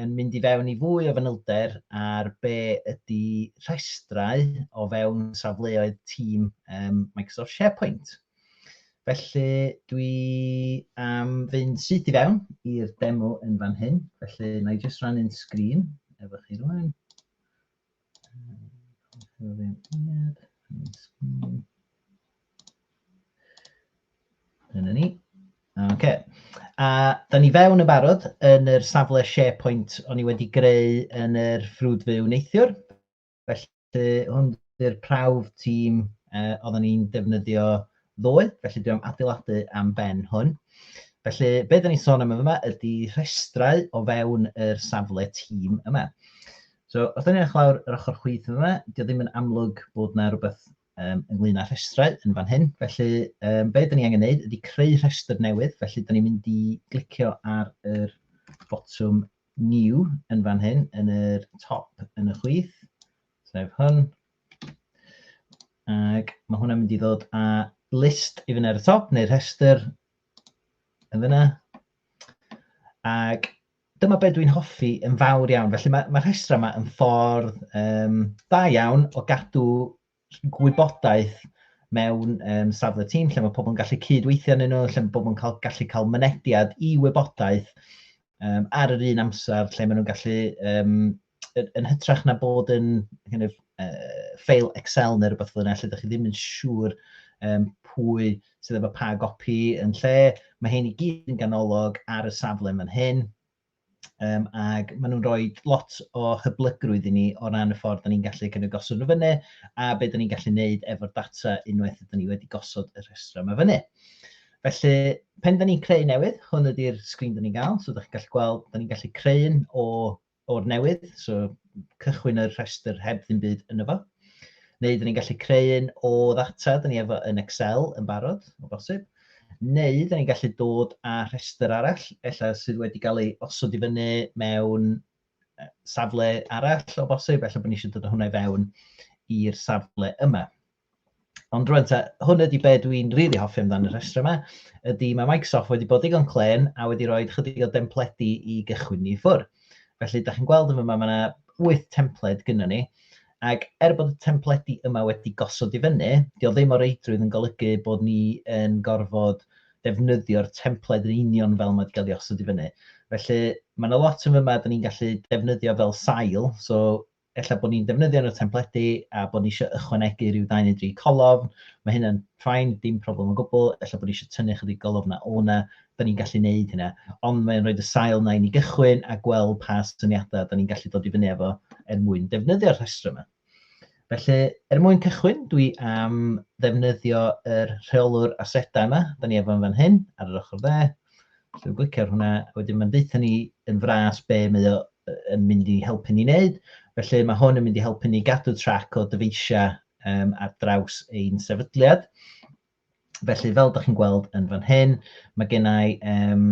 yn mynd i fewn i fwy o fanylder ar be ydy rhestrau o fewn safleoedd tîm um, Microsoft SharePoint. Felly dwi am fynd syth i fewn i'r demo yn fan hyn, felly na i jyst rhannu'n sgrin efo chi rwan. Dyna ni. OK. A da ni fewn yn barod yn yr safle SharePoint o'n i wedi greu yn yr ffrwd fyw neithiwr. Felly hwn yw'r prawf tîm uh, oedden ni'n defnyddio ddoe, felly dwi am adeiladu am ben hwn. Felly, be da ni'n sôn am yma ydy rhestrau o fewn yr safle tîm yma. So, wrth edrych lawr yr ochr chwith yn fan'na, dydi o ddim yn amlwg bod yna rhywbeth um, ynglyn â rhestrau yn fan hyn. Felly, um, be da ni angen neud ydy creu rhestr newydd, felly da ni'n mynd i glicio ar yr botwm new yn fan hyn, yn yr top yn y chwith, sef hwn. Ac mae hwnna'n mynd i ddod â list i fyny ar y top, neu rhestr yn fyna. Ac Dyma be dwi'n hoffi yn fawr iawn. Felly mae, mae rhestrau yma yn ffordd um, da iawn o gadw gwybodaeth mewn um, safle tîm lle mae pobl yn gallu cydweithio yn nhw, lle mae pobl yn cael, gallu cael mynediad i wybodaeth um, ar yr un amser lle maen nhw'n gallu um, yn hytrach na bod yn kind of, uh, ffeil Excel neu rhywbeth fel yna, lle ydych chi ddim yn siŵr um, pwy sydd efo pa gopi yn lle. Mae hyn i gyd yn ganolog ar y safle fan hyn. Um, ac maen nhw'n rhoi lot o hyblygrwydd i ni o ran y ffordd da ni'n gallu cynnig gosod nhw fyny a be da ni'n gallu wneud efo'r data unwaith ydyn ni wedi gosod y rhestr yma fyny. Felly, pen da ni'n creu newydd, hwn ydy'r sgrin da ni'n gael, so da chi'n gallu gweld, da ni'n gallu creu un o o'r newydd, so cychwyn yr rhestr heb ddim byd yno fo. Neu dyn ni'n gallu creu un o ddata dyn ni efo yn Excel yn barod, o bosib. Neu dyn ni'n gallu dod â rhestr arall, ella sydd wedi cael ei osod i fyny mewn safle arall o bosib, ella bod ni eisiau dod â hwnna i fewn i'r safle yma. Ond rwan ta, hwn ydy be dwi'n rili really hoffi amdano'r rhestr yma, ydy mae Microsoft wedi bod digon clen a wedi rhoi chydig o dempledi i gychwyn ni ffwr. Felly, da chi'n gweld yma, mae yna 8 templed gyda ni, ac er bod y templedi yma wedi gosod i fyny, dio ddim o reidrwydd yn golygu bod ni yn gorfod defnyddio'r templed yn union fel mae wedi cael ei osod i fyny. Felly, mae yna lot yn yma, da ni'n gallu defnyddio fel sail, so ella bod ni'n defnyddio nhw templedi a bod ni eisiau ychwanegu rhyw ddau neu dri colofn, mae hynna'n ffain, dim problem o gwbl, ella bod ni eisiau tynnu chydig golofn na o na, da ni'n gallu neud hynna. Ond mae'n rhoi y sail na i ni gychwyn a gweld pa syniadau da ni'n gallu dod i fyny efo er mwyn defnyddio'r rhestr yma. Felly, er mwyn cychwyn, dwi am ddefnyddio yr er rheolwr asedau yma, da ni efo'n fan hyn, ar yr ochr dde. Dwi'n glicio'r hwnna, wedyn mae'n deutha ni yn fras be mae o yn mynd i helpu ni wneud. Felly mae hwn yn mynd i helpu ni gadw trac o dyfeisiau um, ar draws ein sefydliad. Felly fel ydych chi'n gweld yn fan hyn, mae gennau um,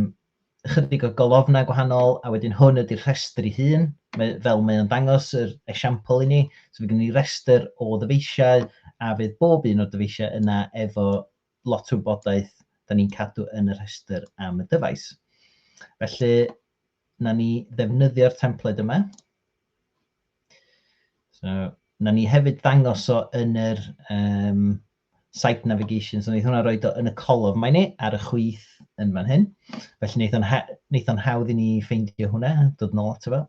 ychydig o golofnau gwahanol a wedyn hwn ydy'r rhestr ei hun, mae, fel mae o'n dangos yr esiampl i ni. So mae gen i restr o ddyfeisiau a fydd bob un o'r dyfeisiau yna efo lot o wybodaeth da ni'n cadw yn y rhestr am y dyfais. Felly, na ni ddefnyddio'r templed yma. So, na ni hefyd ddangos o yn yr um, site navigation, so wnaeth hwnna roi do yn y colof mae ni ar y chwyth yn fan hyn. Felly wnaeth o'n, ha wnaeth o'n hawdd i ni ffeindio hwnna, dod yn ôl ato fo.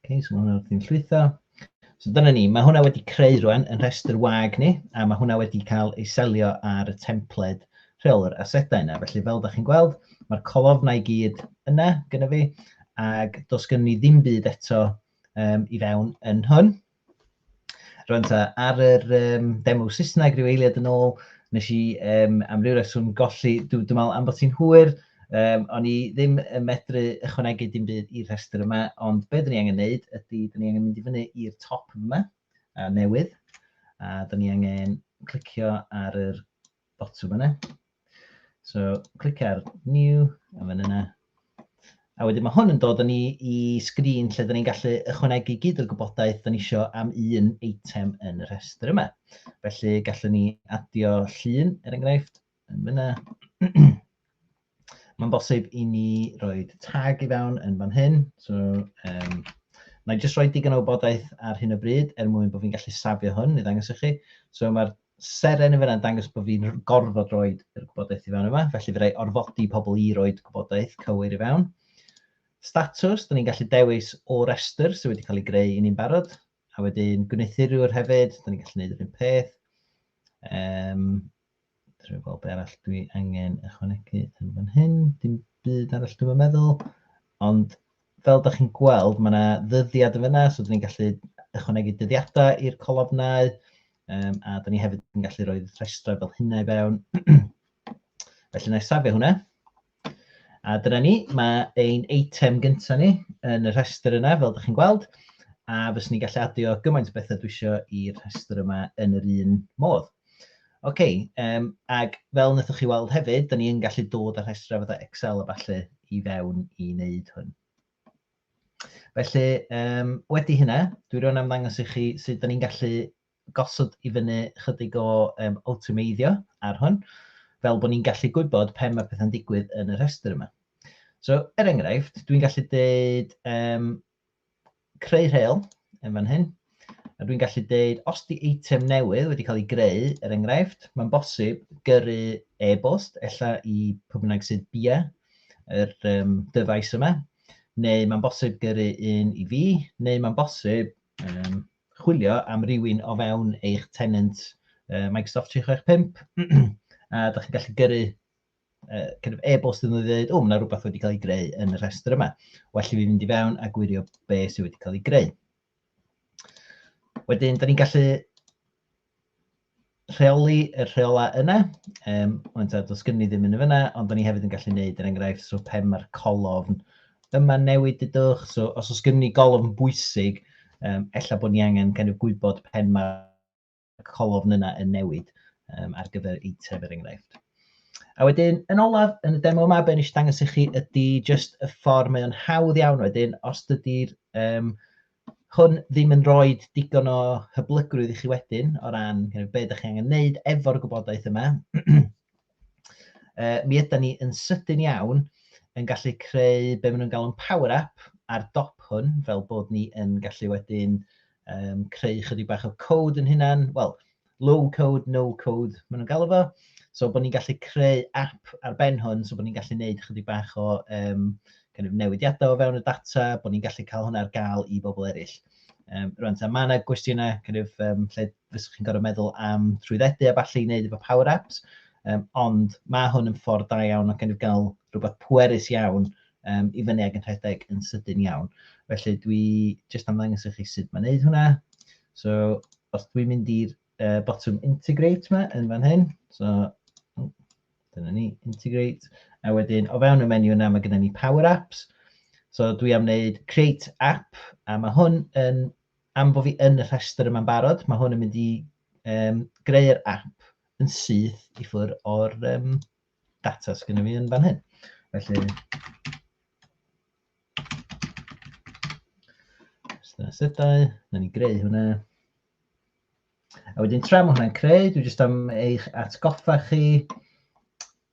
Okay, so hwnna wrthi'n llwytho. So dyna ni, mae hwnna wedi creu rwan yn rhestr wag ni, a mae hwnna wedi cael ei selio ar y templed rheolwr asedau yna. Felly fel da chi'n gweld, mae'r colofnau gyd yna gyda fi, ac dos gen ni ddim byd eto um, i fewn yn hwn. Rwan ta, ar yr um, demo Saesneg rhyw eiliad yn ôl, nes i um, am ryw reswm golli, dwi'n dwi meddwl am bod ti'n hwyr, um, o'n i ddim yn medru ychwanegu dim byd i'r rhestr yma, ond beth ni angen neud ydy, dyn ni angen mynd i fyny i'r top yma, a newydd, a dyn ni angen clicio ar yr botwm yna. So, clic ar New, a fan yna. A wedyn mae hwn yn dod yn ni i sgrin lle dyn ni'n gallu ychwanegu gyd o'r gwybodaeth dyn ni eisiau am un eitem yn y rhestr yma. Felly, gallwn ni adio llun, er enghraifft, yn fyna. Mae'n bosib i ni roi tag i fewn yn fan hyn. So, um, na i jyst rhoi digon o wybodaeth ar hyn o bryd er mwyn bod fi'n gallu safio hwn i ddangos i chi. So mae'r seren yn fyna'n dangos bod fi'n gorfod rhoi yr gwybodaeth i fewn yma, felly fe rai orfodi pobl i roi gwybodaeth cywir i fewn. Statws, da ni'n gallu dewis o restr sydd wedi cael ei greu i ni'n barod. A wedyn gwneuthurwyr hefyd, da ni'n gallu gwneud yr un peth. Um, Dwi'n gweld beth arall dwi angen ychwanegu yn fan hyn. Dim byd arall dwi'n meddwl. Ond fel da chi'n gweld, mae yna ddyddiad yn fyna, so da ni'n gallu ychwanegu dyddiadau i'r colofnau. Um, a da ni hefyd yn gallu rhoi rhestrau fel hynna i fewn. Felly na i safio hwnna. A dyna ni, mae ein eitem gyntaf ni yn y rhestr yna, fel ydych chi'n gweld, a fyswn ni'n gallu adio gymaint o bethau dwi eisiau i'r rhestr yma yn yr un modd. Oce, okay, um, ac fel wnaethoch chi weld hefyd, da ni'n gallu dod â rhestrau fatha Excel a falle i fewn i wneud hwn. Felly, um, wedi hynna, dwi rhywun am ddangos i chi sut da ni'n gallu gosod i fyny chydig o yym awtomeiddio ar hwn, fel bod ni'n gallu gwybod pe mae pethau'n digwydd yn y rhestr yma. So, er enghraifft, dwi'n gallu dweud um, creu rheol yn fan hyn, a dwi'n gallu dweud os di eitem newydd wedi cael ei greu, er enghraifft, mae'n bosib gyrru e-bost, ella i pwy bynnag sydd bia yr um, dyfais yma, neu mae'n bosib gyrru un i fi, neu mae'n bosib um, chwilio am rywun o fewn eich tenant uh, Microsoft 365, a da chi'n gallu gyrru uh, kind of e-bost yn dweud, o, mae yna rhywbeth wedi cael ei greu yn y rhestr yma. Well i fi fynd i fewn a gwirio be sydd wedi cael ei greu. Wedyn, da ni'n gallu rheoli y rheolau yna. Um, ond ta, dos gynnu ddim yn y fyna, ond o'n i hefyd yn gallu gwneud, er enghraifft, so pen mae'r colofn yma newid dydwch. So, os oes gynnu golofn bwysig, um, ella bod ni angen kind of gwybod pen mae'r colofn yna yn newid um, ar gyfer y tref er enghraifft. A wedyn, yn olaf, yn y demo yma, be nes i dangos i chi ydy just y ffordd mae o'n hawdd iawn wedyn, os dydy'r um, hwn ddim yn rhoi digon o hyblygrwydd i chi wedyn o ran you know, be ydych chi angen wneud efo'r gwybodaeth yma, uh, mi ydy ni yn sydyn iawn yn gallu creu be maen nhw'n galw'n power up ar dop hwn, fel bod ni yn gallu wedyn um, creu chydig bach o code yn hynna'n, wel, low code, no code, maen nhw'n galw fo. So bod ni'n gallu creu app ar ben hwn, so bod ni'n gallu gwneud chydig bach o um, kind of newidiadau o fewn y data, bod ni'n gallu cael hwnna ar gael i bobl eraill. Um, rwan, ta, mae yna gwestiynau kind of, um, lle fyswch chi'n gorfod meddwl am trwyddedu a falle i wneud efo Power Apps, um, ond mae hwn yn ffordd da iawn o kind of gael rhywbeth pwerus iawn um, i fyny ag yn rhedeg yn sydyn iawn. Felly dwi jyst am ddangos i chi sut mae'n neud hwnna. So, os dwi'n mynd i'r uh, botwm integrate yma yn fan hyn, so dyna ni, integrate, a wedyn o fewn y menu yna mae gennym ni power apps, so dwi am wneud create app, a mae hwn yn, am bod fi yn y rhestr yma'n barod, mae hwn yn mynd i um, greu'r app yn syth i ffwrdd o'r um, data sydd gennym ni yn fan hyn. Felly, Sydau, na ni greu hwnna. A wedyn tra mae hwnna'n creu, dwi jyst am eich atgoffa chi.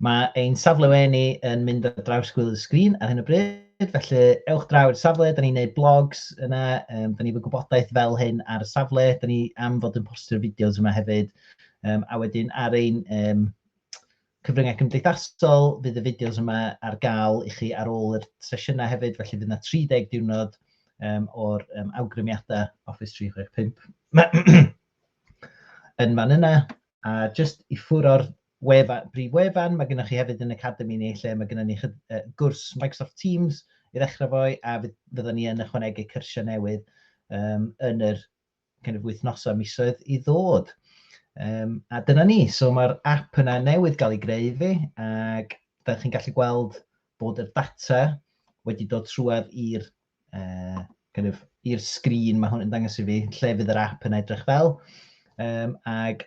Mae ein safle weni yn mynd ar draws gwyl y sgrin ar hyn o bryd, felly ewch draw i'r safle, da ni'n neud blogs yna, um, da ni fy gwybodaeth fel hyn ar y safle, da ni am fod yn postio'r fideos yma hefyd, um, a wedyn ar ein um, Cyfryngau cymdeithasol, fydd y fideos yma ar gael i chi ar ôl yr sesiynau hefyd, felly fydd yna 30 diwrnod um, o'r um, awgrymiadau Office 365 yn fan yna. A just i ffwr o'r wefan, brif wefan, mae gennych chi hefyd yn Academy ni, lle mae gennych ni chyd, uh, gwrs Microsoft Teams i ddechrau fo'i, a fyddwn ni yn ychwanegu cyrsiau newydd um, yn yr kind of wythnosau, misoedd i ddod. Um, a dyna ni, so mae'r app yna newydd gael ei greu fi, ac da chi'n gallu gweld bod y data wedi dod trwad i'r uh, kind of, i'r sgrin mae hwn yn dangos i fi, lle fydd yr app yn edrych fel, um, ac